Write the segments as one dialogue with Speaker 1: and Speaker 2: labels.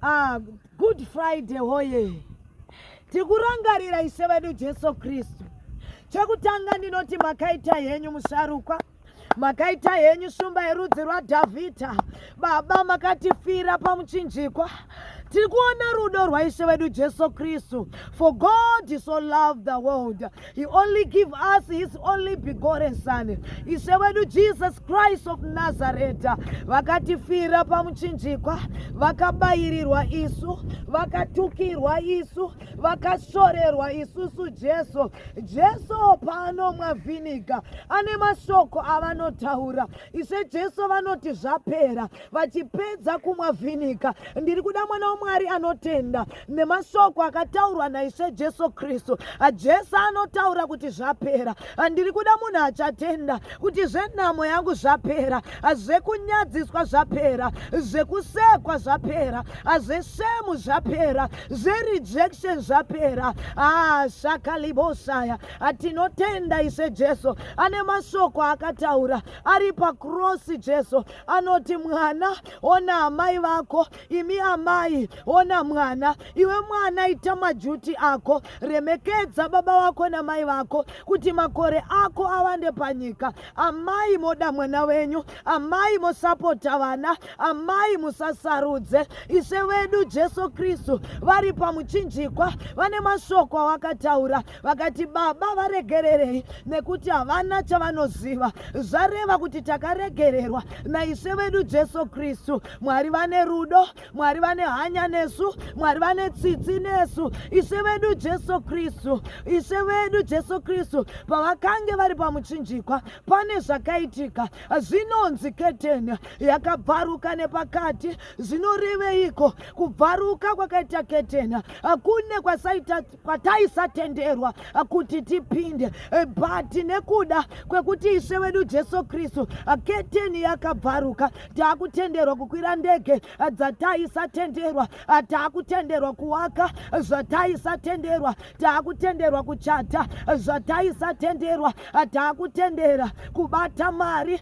Speaker 1: Ah, good friday hoye tikurangarira ishe vedu jesu kristu chekutanga ndinoti makaita henyu musharukwa makaita henyu shumba yerudzi rwadhavhidha baba makatifira pamuchinjikwa tiri kuona rudo rwaishe vedu jesu kristu for god so love the world He only give us his only begotten son. Ishe wedu Jesus Christ of Nazareth vakatifira pamuchinjikwa, vakabairirwa isu, vakatukirwa isu, vakashorerwa isusu Jesu. Jesu paanomwa vhiniga ane mashoko avanotaura. Ishe Jesu vanoti zvapera, vachipedza kumwa vhiniga. Ndiri kuda mwana waMwari anotenda nemashoko akataurwa naishe jesu kristu jesu anotaura kuti zvapera ndiri kuda munhu achatenda kuti zvenhamo yangu zvapera zvekunyadziswa zvapera zvekusekwa zvapera zveshemu zvapera zverejection zvapera ah, shakaliboshaya tinotenda ishe jesu ane mashoko akataura ari pakrosi jesu anoti mwana ona amai vako imi amai ona mwana iwe mwana ita majuti ako remekedza baba vako namai vako kuti makore ako awande panyika amai moda mwana wenyu amai mosapota vana amai musasarudze ishe vedu jesu kristu vari pamuchinjikwa vane mashoko awakataura vakati baba varegererei nekuti havana chavanoziva zvareva kuti takaregererwa naishe vedu jesu kristu mwari vane rudo mwari vane hanya nesu mwari vane tsitsi nesu ishe vedu jesu kristu ishe vedu jesu kristu pavakange vari pamuchinjikwa pane zvakaitika zvinonzi keteni yakabvaruka nepakati zvinoreveiko kubvaruka kwakaita keteni kune kwasaita kwataisatenderwa kuti tipinde but nekuda kwekuti ishe wedu jesu kristu keteni yakabvaruka taakutenderwa kukwira ndege dzataisatenderwa taakutenderwa kuwaka zvataisatenderwa taakutenderwa kuchata zvataisatenderwa taakutendera kubata mari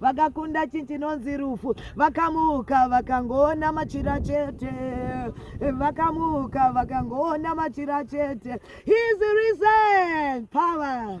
Speaker 1: vakakunda chinhu chinonzi rufu vakamuka vakangoona machira chete vakamuka vakangoona machira chete his risen power